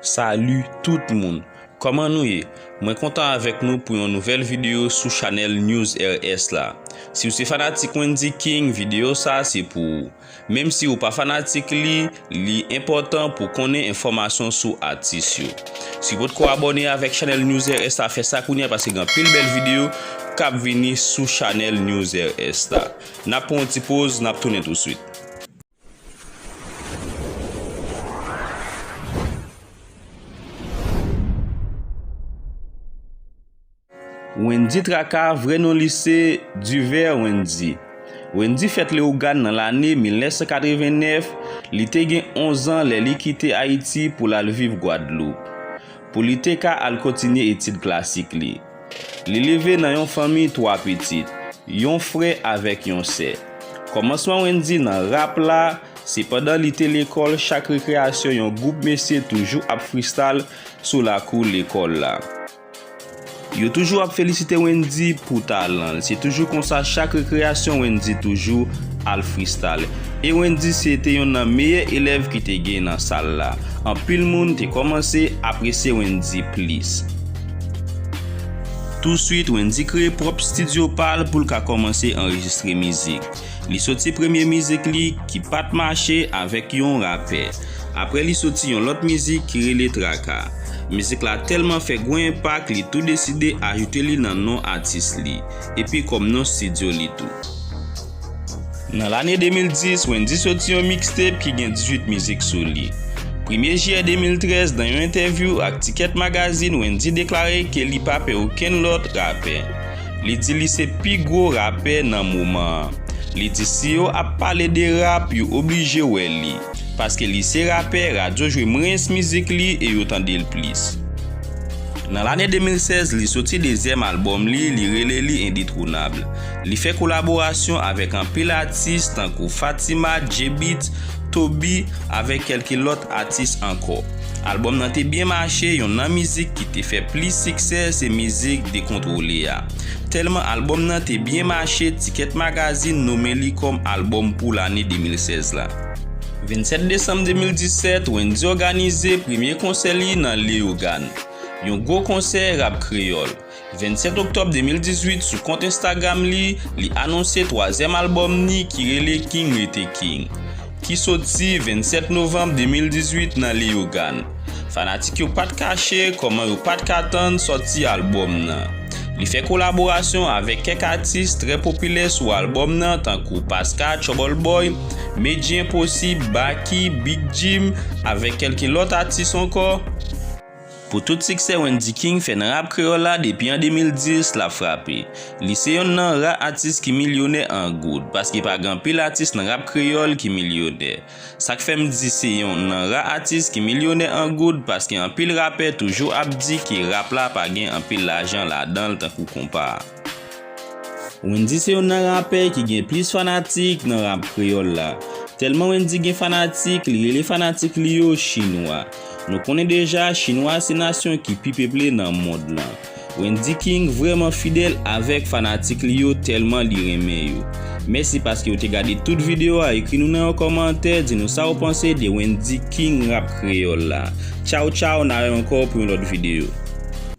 Salut tout moun Koman nou ye Mwen kontan avèk nou pou yon nouvèl video sou chanèl News RS la Siw se fanatik Wendyy King video sa se pou ou Menm si ou pa fanatik li li enpòtan pou konnen enfòmasyon sou atis yo Siw potko abòne avèk chanèl News RS la fè sa kounya paske gen anpil bèl video kap vini sou chanèl News RS la Nap pran yon ti poz nap tounen touswit. Wendy Traka, vrè non li se, Duver Wendy. Wendy fèt Leyogàn nan lane 1989, li te gen 11 an lè li kite Ayiti pou l al viv Gwadloup, pou li te ka al kontinye etid klasik li. Li leve nan yon fanmi 3 pitit, yon frè avèk yon sè. Kòmansman Wendy nan rap la se pandan li te lekòl chak rekreyasyon yon gwoup mesye toujou ap fristal sou lakou lekòl la. Yo toujou ap felisite Wendy pou talan l se toujou konsa chak rekreyasyon Wendy toujou al fristal e Wendy se te yon nan meyè elèv ki te gen nan sal la anpil moun te kòmanse apresye Wendy plis. Touswit Wendy kreye pwòp stidyo pa l pou l ka kòmanse anrejistre mizik. Li soti premye mizik li ki pa t mache avèk yon rapè. Aprè li soti yon lòt mizik ki rele Traka. Mizik la tèlman fè gwo enpak li tou deside ajoute li nan non atis li, epi kòm non stidyo li tou. Nan lane 2010, Wendyy soti yon mixtape ki gen 18 mizik sou li. Premye Jiyè 2013, nan yon entèvyou ak Ticket Magazine, Wendyy deklare ke li pa pè okenn lòt rapè. Li di li se pi gwo rapè nan moman an. Li di si yo ap pale de rap, yo oblije wè li. Paske li se rapè, radyo jwe mwens mizik li e yo tande l plis. Nan lane 2016, li soti dezyèm albòm li, li rele li Indetronable. Li fè kolaborasyon avèk anpil atis tankou Fatima, J-Beatz, Toby avèk kèlke lòt atis ankò. Albòm nan te byen mache, yon nan mizik ki te fè plis siksè se mizik Dekontwole a. Tèlman albòm nan te byen mache, Ticket Magazine nome li kòm albòm pou lane 2016 la. 27 desanm 2017, Wendyy òganize premye konsè li nan Leyogàn. Yon gwo konsè rap kreyòl. 27 oktòb 2018 sou kont Instagram li, li anonse twazyèm albòm ni ki rele King Rete King, ki soti 27 novanm 2018 nan Leyogàn. Fanatik yo pat kache kòman yo pat ka tann sòti albòm nan. Li fè kolaborasyon avèk kèk atis trè popilè sou albòm nan tankou Paska, Trouble Boy, Medjy Enposib, Baky, Big Jim avèk kèlke lòt atis ankò. Pou tout siksè Wendy King fè nan rap kreyòl la depi an 2010 lap frape. Li se yonn nan ra atis ki milyonè an goud paske pa gen anpil atis nan rap kreyòl ki milyonè. Sak fèm di se yonn nan ra atis ki milyonè an goud paske anpil rapè toujou ap di ke rap la pa gen anpil lajan ladanl tankou konpa. Wendyy se youn nan rapè ki gen plis fanatik nan rap kreyòl la. Tèlman Wendyy gen fanatik, li rele fanatik li yo Chinwa. Nou konnen deja Chinwa se nasyon ki pi peple nan mond lan. Wendyy King vrèman fidèl avèk fanatik li yo tèlman li renmen yo. Mèsi paske ou te gade tout videyo a ekri nou nan yon kòmantè di nou sa ou panse de Wendyy King rap kreyòl la. Tchaw tchaw na wè ankò pou yon lòt videyo.